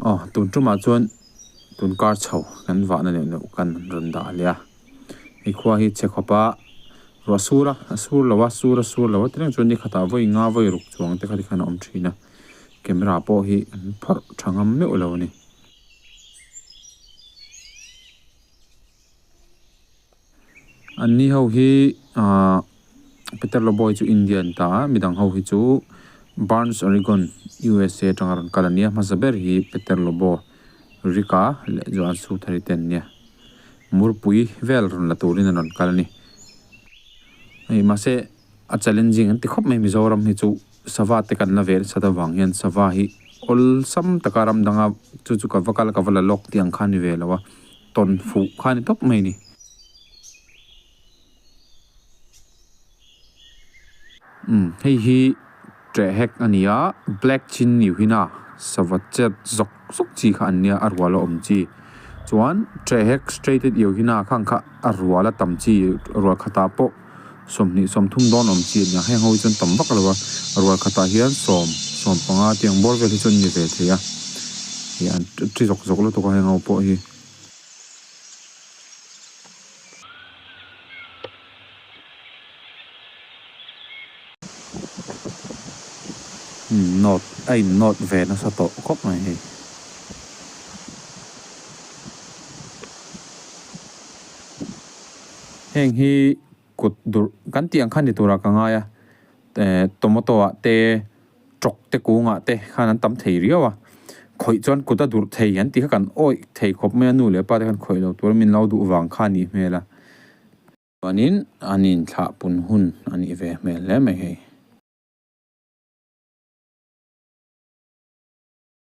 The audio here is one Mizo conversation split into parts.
Aw tun tumah chuan tun kar chho kan vahna neuh neuh kan rawn dah leh a. Nikhua hi che khawp a, ruah sur a, a sur lo a, sur a sur lo a, ti reng chuan nikhat ah vawi nga vawi ruk chuang te kha tikhan a awm thin a, camera pawh hi phawrh tha ngam meuh lo a ni. Anni ho hi aah. Peter Loboy chu India a in ta a, midang ho hi chu Burns, Oregon, usa atanga rawn kal a nia. Hmasa ber hi Peter Lobo, Rika leh Joan Southari te an nia. Murpui vel rawn la turin an rawn kal a ni. Hei mahse a challenging an ti khawp mai Mizoram hi chu Sava te kan la ve nasa ta vang hian Sava hi awlsam taka ram danga chu chu ka va kal a ka va la lawk tih ang kha a ni ve lo a. Tawn fuh kha a ni tawp mai a ni. Umm hei hi Treh Hek a nia, Black Chin Niuhina sava chet zawk zawk chi kha an nia a rual a awm chi. Chuan Treh Hek Straighted Iuhina khang kha a rual a tam chi, a rual khatah pawh sawmhnih sawmthum dawn a awm chi a nia. Heng ho hi chuan tam vak lo va, a rual khatah hian sawm, sawm panga tiang bawr vel hi chuan ni ve thei a, ih a ṭhi zawk zawk lutuk a heng ho pawh hi. Note, A in note ve nasa tawh khawp mai hei. Heng hi kut durh kan tih ang kha ni tura ka ngai a. Tomato-ah te. Ṭawk te kûngah te khan an tam thei riau a, khawih chuan kut a durh thei an tih kha kan awih thei khawp mai a, nu leh pa te khan khawih lo tur min lo duh vang kha a nih hmel a. Chuanin an inthlah pun hun a nih ve hmel hle mai hei.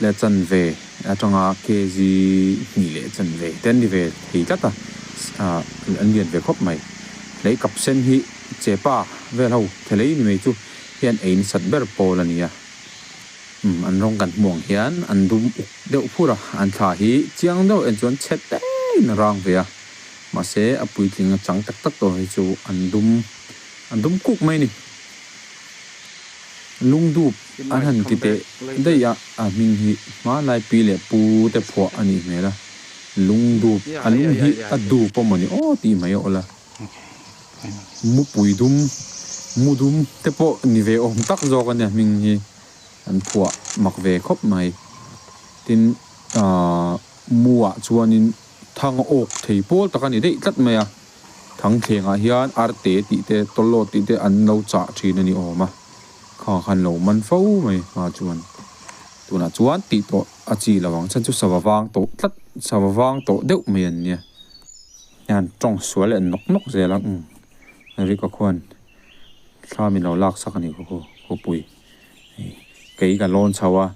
Leh chanve atanga KG hnih leh chanve te an ni ve thei tlat a, an lian ve khawp mai. Hlei kap sen hi chepa vel ho thelei ni mai chu hian a insat ber pawl a ni a. Umm an rawng kan hmuh ang hian an dum uk deuh phur a, an thla hi chiang deuh en chuan chhe tengin a rang ve a, mahse a puitling a chang tak tak tur hi chu an dum an dum kuk mai a ni. Lungdup. A han ti teh daih a, a hming hi hmanlai pi leh pu te phuah a nih hmel a, lung dup, a lung hi a dup pawh mawni aw tih mai a awla mupui dum, mu dum te pawh ni ve awm tak zawk a nia hming hi an phuah mak ve khawp mai. Tin aah mu ah chuanin thang a awk thei pawl tak a ni daih tlat mai a, thangthlengah hian arte tih te tawlawt tih te an lo chah thin a ni awm a. Kha khan lo man fo mai hma chuan. Tunah chuan tih pawh a chi lo ang chan chu sava vang tawh tlat sava vang tawh deuh mai an nia. Hian tawng sual en nawk nawk zel a umm. Ri ka khuan thla min lo lak sak a ni ka khaw khawpui. Kei ka lawn chho a,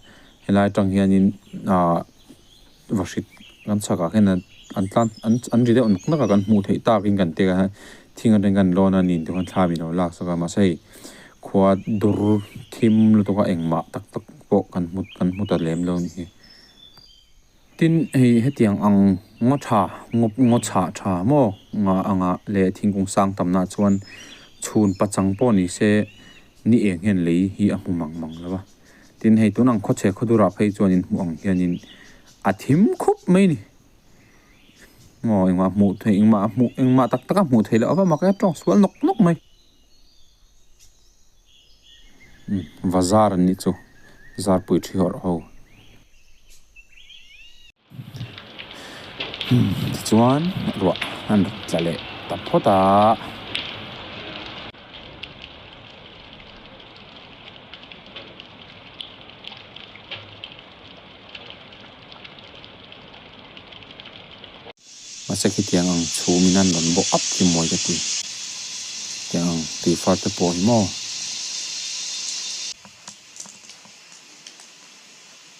helai tang hianin aah va hrit kan chhakah khian an an tlan an an ri deuh nak nak a kan hmuh theih takin kan tih kha thing aṭang hian kan lawn a nih duh khan thla min lo lak chauh kha mahse hei khua dur thim lutuk a eng mah tak tak pawh kan hmu kan hmu ta lem lo ni tin hei hetiang ang ngaw ṭha ngaw ngaw chhah ṭha maw nga anga leh thingkung sang tam nahah chuan chhun pachang pawh ni se ni eng hian lei hi a hmu mang mang lo va. Tin, hei tûn ang khawchhe khawdurah phei chuan inhmuh ang hianin a thim khawp mai a ni. Aw, engmah hmuh theih, engmah a hmuh, engmah tak taka hmuh theih loh ava mak e, ṭawng sual nawk nawk mai. Umm, va zâr an nih chu, zârpui ṭhihawrh ho. Tichuan ruah a rawn tla leh ta phawt a. Mahse khitiang ang chhumin an rawn bawk ap hi mawi ka ti. Tiang ang tui far te pawh hi maw.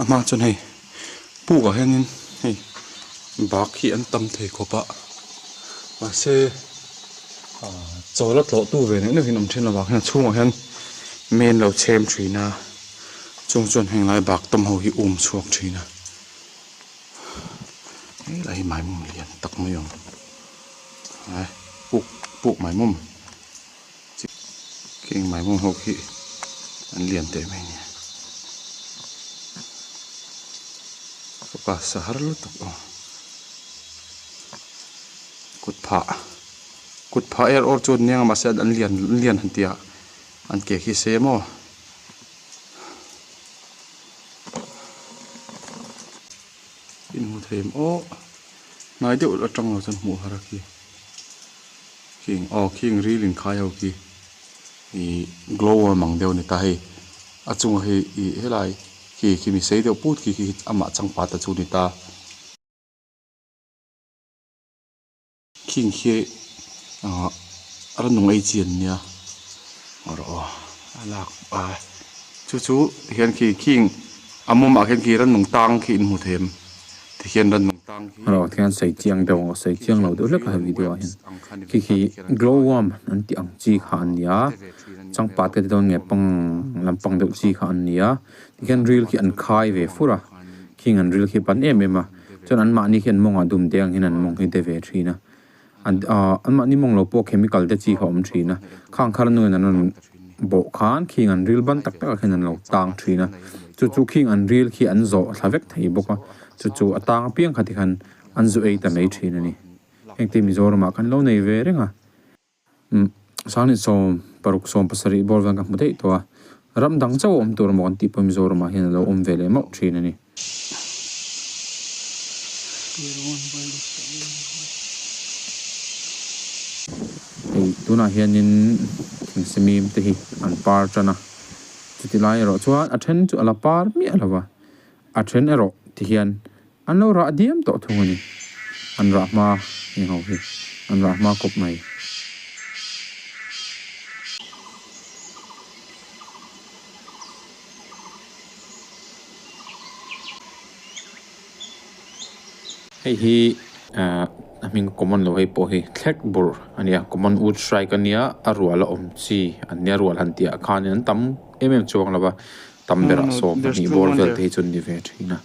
a hma ah chuan hei puk ah hian in hei bag hi an tam thei khawp a mahse ah chawla tlawh tu ve neuh neuhin a awm thin lo vang hian a chhung ah hian main lo chhem thin a chung ah chuan heng lai bag tam ho hi a awm chhuak thin a. helai hi maimum lian tak mai ang ae puk puk maimum heng maimum ho khi an lian teh mai nia focus a har lutuk ang kut phah kut phah er awr chu a nia mahse an lian lian han tia an ke khi se maw. in hmu thei maw hnai deuh a tang lo chuan hmuh har a khi khing aw khing ril in khai ho khi ih glow worm ang deuh a ni ta hei a chunga hi ih helai khi khi mi sei deuh put khi khi amah changpa te chu a ni ta. Khing hi ah rannung ei chi an nia a rawh aw a lak a chu chu hian khi khing a mawm ah khian khi rannung tang khi in hmu thei em ti khian rannung tang khi rawh khian sei chiang deuh ang sei chiang lo deuh hlek a video ah hian khi khi glow worm an tih ang chi kha an nia changpat ka ti dawn nge pang lampang deuh chi kha an nia ti khian ril khi an khai ve fur a. King an ril khi a pan em em a, chuan an mahni khian mawngah dum te angin an mawng hi de ve thin a. An ahh an mahni mawng lo pawh chemical te chi kha awm thin a, khangkhar nuin an rawn bawh khan King an ril ban tak takah khian an lo tang thin a. Chu chu King an ril khi an zawh thla vek thei bawk a, chu chu a tang apiang kha tikhan an zu ei ta mai thin a ni. Hengte Mizoramah kan lo nei ve reng a. Sanghnih sawm, paruk sawm pasarih bawr hian ka hmu daih tawh a, ram dang chauh a awm tur maw kan tih pawh hi Mizoram ah hian a lo awm ve leh mauh thin a ni. Hei tunah hianin thing simim te hi an par tan a, chutihlai erawh chuan a then chu a la par miah lo va, a then erawh ti hian. An lo rah diam tawh thung a ni. An rah hma ni ho hi. An rah hma kawp mai. Hei hi a hming common lo hei pawh hi thlek bur a ni a. Common u strike a nia. A rual a awm chi an nia. Rual han tihah khan in an tam em em chuang lo va. Tam berah sawm a nih bawr vel te hi chuan ni ve thin a.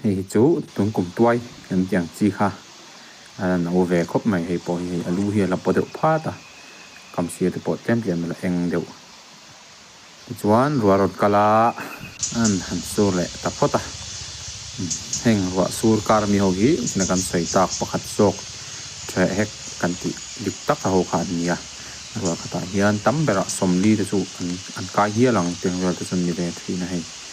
Hei hi chu tun kum tuai kan tih ang chi kha a la no ve khawp mai hei pawh hi hei a lu hi a la paw deuh phat a kam sir te pawh tlem tlem a la eng deuh tichuan ruah a rawn kal a an han sur leh ta phawt a heng ruah sur kar mi ho hi nihna kan sawi tak pakhat zawk ṭheh hek kan tih dik tak a ho kha an ni a ruah khatah hian tam berah sawmli te chu an an kai hial ang tih ang vel te chu a ni ve thin a hei.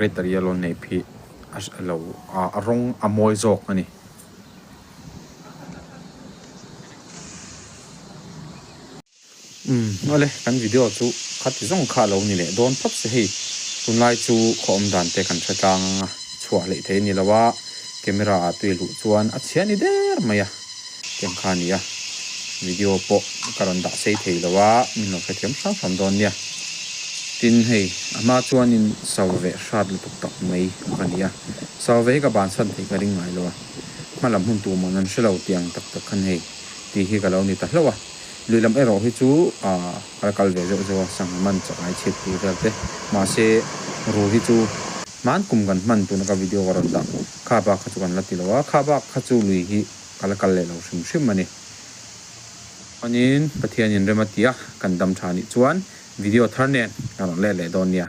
Red yellow neih phih alo a rawng a mawi zawk a ni. Umm awle kan video chu kha ti zawng kha alo ni leh dawn phap se hei tunlai chu khawawm dan te kan hre tlang anga chhuah hlei thei a ni lo a camera ah tui luh chuan a chhiah ni der mai a. Tiang kha nia, video pawh ka rawn dah sei thei lo a, min lo hrethiam hrang hrang dawn nia. Tin, hei a hma chuanin sauve hrat lutuk tak mai ka ni a, sauve hi ka bansan theih ka ring ngai lo a, hma lam hun tu mawn an hre lo tiang tak tak khan hei tih hi ka lo ni ta hlauh a, luihlam erawh hi chu ah ka la kal ve zeuh zeuh a, sangha man chak ai chhip tih vel te, mahse ru hi chu hman kum kan hman tuna ka video ka rawn dah. Kha bak kha chu kan la ti lo a, kha bak kha chu lui hi ka la kal leh lo hrim hrim a ni. Chuanin Pathianin rem a ti a, kan dam tha nih chuan video thar nen ka rawn let leh dawn nia.